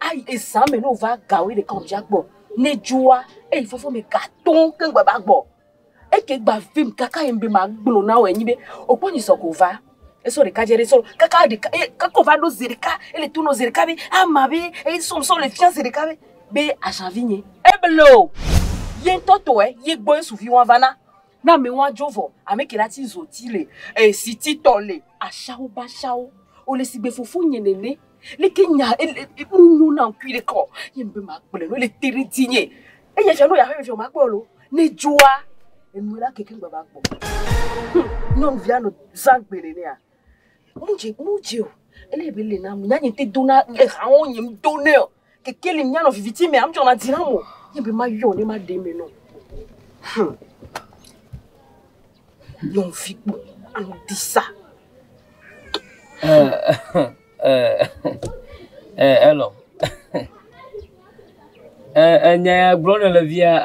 Ayi ezã me ne wova ga wòye ɖeka wòdza gbɔ ne dzoa eyi fɔfɔ me ga tɔ̃ keŋ gba va gbɔ. Eke gba vim kaka yem be magblɔ na wò anyi be òkpɔ nyi sɔ ko va. Esɔ ɖeka dze ɖe sɔ kaka ɖeka e kaka wòva ɖo zi ɖeka ele to nɔ zi ɖeka be ama be e sɔ sɔ le fia zi ɖeka be be azã vinye. Eblo ye ŋutɔ tɔe ye gbɔ Yesu viwɔ̃a va na. Na mi wa djo vɔ ame ke la ti zo ti le e si ti tɔ le. Ashawo ba shawo o le si gbe fofo nye nene le ke nya e le e nu nyo na ŋkui ɖe kɔ ye ŋbe ma kple no le te ɖe ti nye e ye tsɔ no ya ƒe fefia ma kpɔ lo ne djoa enu la ke ke ŋgba va kpɔ. Humm nyɔnuvia nɔ zã gbe nenea. Mudzi mudzi o. Ele be le na mu nyanye te do na le hawo nye do ne o. Keke le nyano viviti me am tsɔ na dzi na mo. Ye be ma yo ne ma de me no. Hmm. Yon fiku anu disa. Eh eh eh elo. Eh eh nya gblɔ ne le via.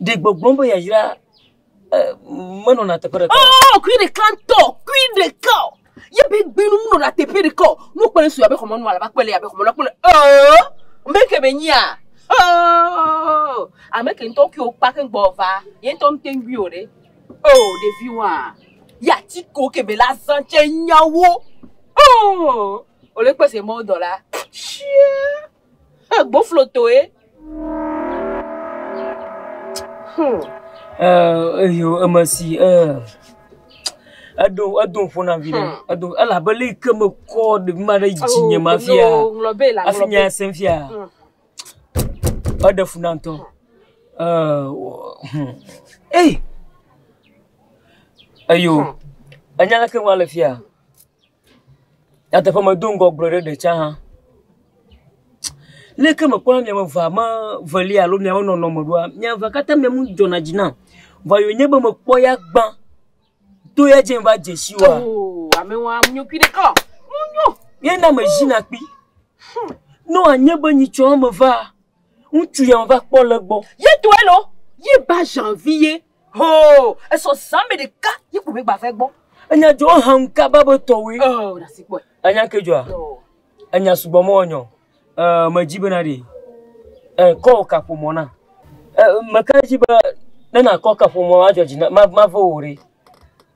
Ɖe gbɔgbɔm be yayra menɔna teƒe ɖeka. Oh, kui ɖeka ŋutɔ, kui ɖeka. Yebe gbinu menɔna teƒe ɖeka. Nu kpɔe su abe xɔmɔnu alaba kpɔe le abe xɔmɔnu kpɔe. Oh, meke be nyia. Oh, ame ke ŋutɔ kui okpa ke gbɔ va. Ye ŋutɔ ŋutɔ gui o ɖe. Oh, ɖevi wa. Ya ti ko ke be la zan tse nyawo. Oh, ole kpese mɔ dɔla. Shia. Eh, gboflotoe. Hmm. Eh, eyo emesi eh eɖo edo ƒo na vi ɖe edo elabe le ke me kɔ ɖevi ma ɖe dzi nye ma fia afi nya sem fia eɖe funa ŋutɔ eh hmm. eh eyo enya leke ŋua le fia. Nyateƒe medo ŋgɔ gblɔ ɖe ɖe tsã hã, leke mekpɔna miame evea me evelia alo miawo nɔnɔme ɖoa, mia evea katã mia nu dzɔna dzi nam, vɔ ye wònye be mekpɔ ya gbã to ya dzi va dze si wòa, ye na mezina kpi, ne wòanye be nyitsɔ eme vaa, ŋutsu ya meva kpɔ le egbɔ. Hoo, esɔ zã mɛ ɖeka ye ko mɛgba va egbɔ. Enya dzɔ hãm kaba be tɔwoe. Oh, na si kpɔe. Enya ke dzɔa. Enya sugbɔ mɔ nyɔ. Eh, medzi be na ɖe. Eh, kɔ kaƒomɔ na. Eh, meka edzi be ne nakɔ kaƒomɔ adzɔ dzi na ma ma ve wo ɖe.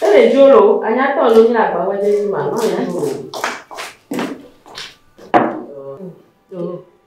Ele dzo lo, anyatɔ lo nye agba wɔ dze ma, ma nya lo.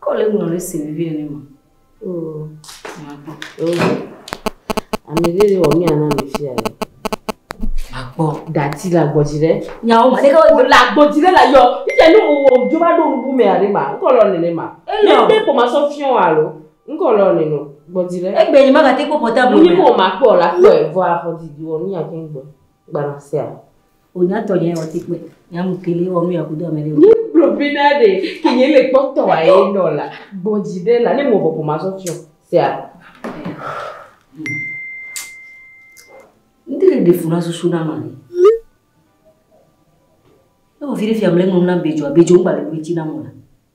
Kɔl eŋu nɔ ɖe si vivi nene ma. Oh, makpɔ. Oh, ame ɖe wɔ mía na mi fia. Makpɔ. Dati la gbɔdzi ɖe. Nyawo ma. Ɖeka wo la gbɔdzi ɖe la yɔ. Ite nu wo jo va ɖo nubu mɛ aɖe ma. Ŋkɔ lɔ nene ma. Ele. Ne de ko ma sɔ fiɔ alo. Ŋkɔ lɔ nene gbɔdzi ɖe. Egbe yi ma ka te ko portable. Mu ni ko ma kpɔ la kpɔ e vɔ afɔ di di wɔ mía ke gbɔ. Gbana sia. O nya tɔ nye ɔti kpe. Nya mu kele ɔnu ya kudo amele. Ni kplo bi na de ke nye le kpɔ tɔ wa ye nɔ la. Gbɔ ji de la ne mo bɔ poma so tio. Sia. Ndi le de funa so suna ma ni. E o vire fi amele mo na bejo, bejo ngba le buiti na mo la.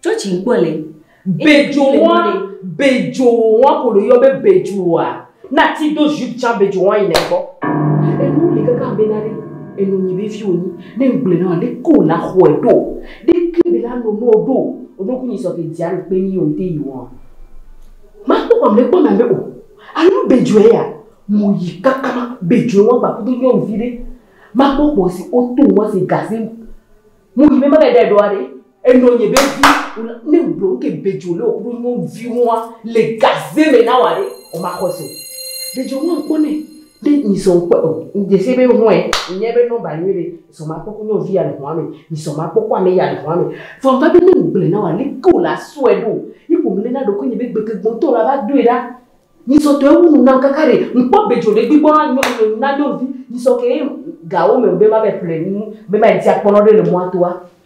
Tsɔtsi ŋkpɔ le. Bedzowɔa, bedzowɔa ko ɖo yɔ be bedzowɔa. Na ti do jupe tsã bedzowɔa yi nɛkɔ. Enu li kaka be na ɖe enu nyi be fi wonyi. Ne ŋgble na le ko la xɔe ɖo. Ɖe ke be la no no ɖo. Oɖo ku nyi sɔ ke dzia nu kpe nyi onte yi wɔa. Ma kpɔ kpɔ mle kpɔ na be o. Anu bedzowɔa ya. Mo yi kaka ma bedzowɔa gba kudo nyɔ nvi ɖe. Ma kpɔ kpɔ si o to wɔa si gase. Mo yi be ma le ɖe ɖoa ɖe. Enɔ nye be vi wòla ne wògblɔ nu ke bedzo le wòkuɖo nyɔ vi ŋua le gaze me na wòa ɖe o ma xɔ se o. Bedzo ŋua ŋkpɔ nɛ ne mi sɔ ŋkpɔ o mi dze se be hɔɛ mi nya be nɔmba nyɔ ɖe sɔ ma kpɔ ku nyɔ vi ya le hɔa me mi sɔ ma kpɔ ku ame ya le hɔa me vɔ va be ne ŋgblɔɛ na wòa leke wòla sɔɛ ɖo yi ko ŋle na ɖokuinye be gbeke gbɔ ŋtɔ wòla va doe ɖa mi sɔ tɔ ewu nu nam kaka ɖe ŋkpɔ bedzo ɖe gbi gbɔ na nyɔ nu na nyɔnuvi mi sɔ ke ye gawo me be ma va yi ƒle nu be ma yi dzi akpɔ nɔ ɖe le mɔa toa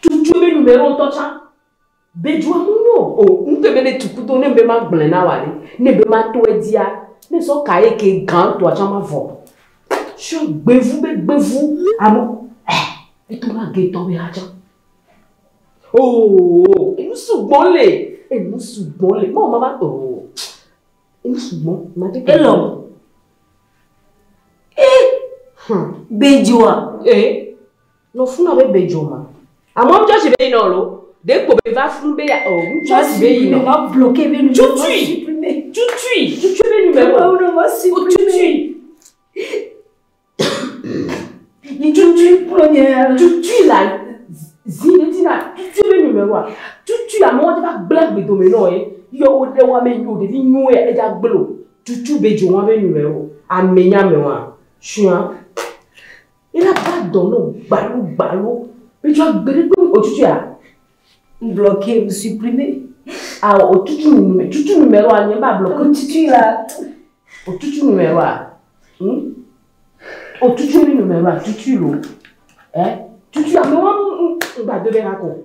Tutu be nu me wo ŋutɔ tsã. Be dua mu nyo o. Ŋutɔ be ne tu kudo ne be ma gblɔe na wa ɖe. Ne be ma tɔe dzia, ne sɔ ka ye ke gã tɔa tsã ma vɔ. Sɔ gbevu be gbevu alo eh eto ma ge tɔ be ha tsã. Oo enu sugbɔ le. Enu sugbɔ le. Mɔ mama oo. Enu sugbɔ. Ma te. Elɔ. Eh. Hm. Be dua. Eh. No funa be be jo ma. Amɔ ŋtsɔ si be yi nɔ lo. De kpo be va fun be ya o. Ŋtsɔ si be yi nɔ. Va bloke be nu. Tutui. Tutui. Tutui be nu me o. Awu no ma si. O tutui. Tutui pro nye. Tutui la. Zi de ti na. Tutui be nu me wa. Tutui amɔ ŋtsɔ va gbla gbe do me nɔ ye. Yɔ o de wa me yi o de vi nyo ya. Eja gblo. Tutui be jo ma be nu me o. Ame nya me wa. Shua. Ela ba dɔ no gbalo gbalo. Mi tsɔ agbe ɖe kpem otutu ya. N blɔ ke mi si pri me. A otutu nu me. Tutu nu me lo anye ba blɔ ke tutu la. Otutu nu me lo a. Hm? Otutu mi nu me lo a tutu lo. Eh? Tutu ya me wa n ba do de ha ko.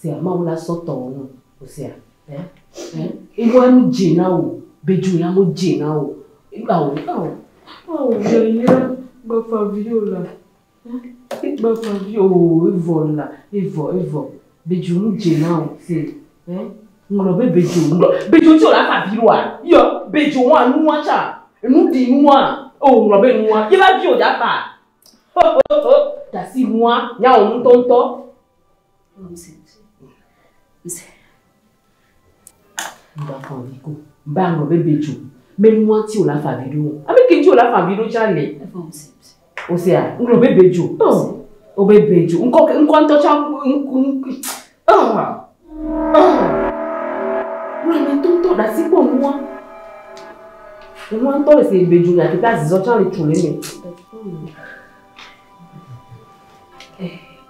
Sea Mawu la sɔ tɔwò nu Hosea eh eh Ewa nu dze na wò Be dzo ya mo dze na wò Ao ao ao Yayra gbafa vi o la eh E gbafa vi o e vɔ la e vɔ e vɔ Be dzo mo dze na wò se eh Ŋlɔ be be dzo ŋlɔ be dzo Ŋti o la fa vi ɖoa Yɔ be dzo wa nu wa tsa Enu ɖi nu wa Oh ŋlɔ be nu wa Yra vi o dza kpa Ho ho ho Ɖasi nu wa Nya wò ŋtɔ ŋtɔ. Báwo bɛ bɛ ju mɛ ni wọn tí o la fa bi do a bɛ kí tí o la fa bi do tsa lè o se a ŋlɔ bɛ bɛ ju o bɛ bɛ ju ŋkɔ ŋkɔ ŋtɔ tsa ŋku ŋku ɔn ɔn wúlò mi tó tó ɖasi kpɔ nu wa nu wa ŋtɔ le se bɛ ju yàtò tá zizɔ tsa le tso le mɛ.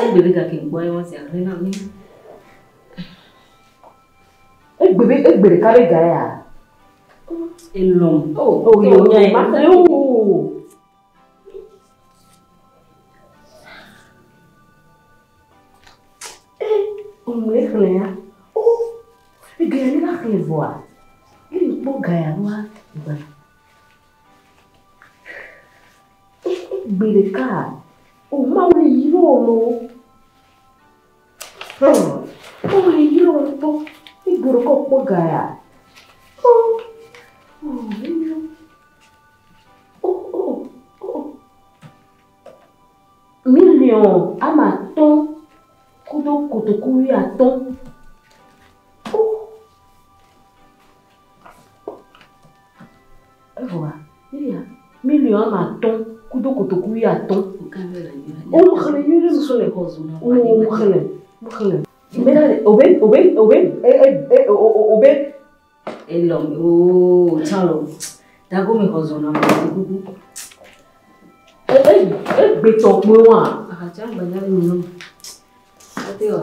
Egbe be gake ŋkpɔ ye wɔn sia hle na mi. Egbe be egbe ɖeka be ga ya. Elɔm. O o yɔ yɔ ma se o. Ŋlɛ xlɛ ya. O ege ya ne la xlɛ vɔa. Ne ŋkpɔ ga ya wa gba. Gbeɖeka o Mawu li yro lo. Hum, Mawu li yro ŋutɔ. Mi gbeɖeka o kpɔ ga ya. Oh, oh, yro. Oh, oh, oh. Miliɔn ama atɔ̃ kudo kotoku wuiatɔ̃. Evɔa, eya miliɔn woame atɔ̃ kudo kotoku wuiatɔ̃. Woxlẽ nyuie ɖe ŋusẽ le xɔ zu. Woxlẽ, woxlẽ. Obe, obe, obe, obe, obe. Elɔ, ooo, tsalɔ. Dago mi xɔ zu na mi. E, e, e gbe tɔ kpɔe wa. Ahatsa gbe na mi nɔ. Ate wa.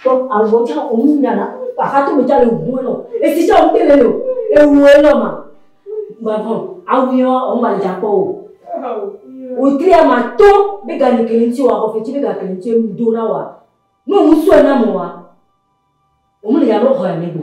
Kpɔ avɔ tsã omu nyana kpa hato mi tale ŋu enɔ esi tsã omu tele o ewu enɔ ma gbavɔ awu yɔ omu ma dza kpɔ o wotri ama to be ga ne kele ŋuti wa kɔ fetsi be ga kele ŋuti emu do na wa ne omu sɔe na mo wa omu le ya lɔ xɔ ya ne go.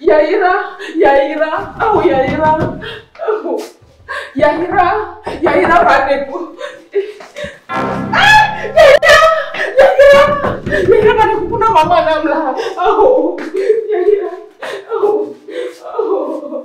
Yayra, yayra, ao yayra, ao yayra, yayra va ɖe ƒo. Yayra, yayra, yayra va ɖe ƒo na mama nam la. Ao yayra, ao, ao.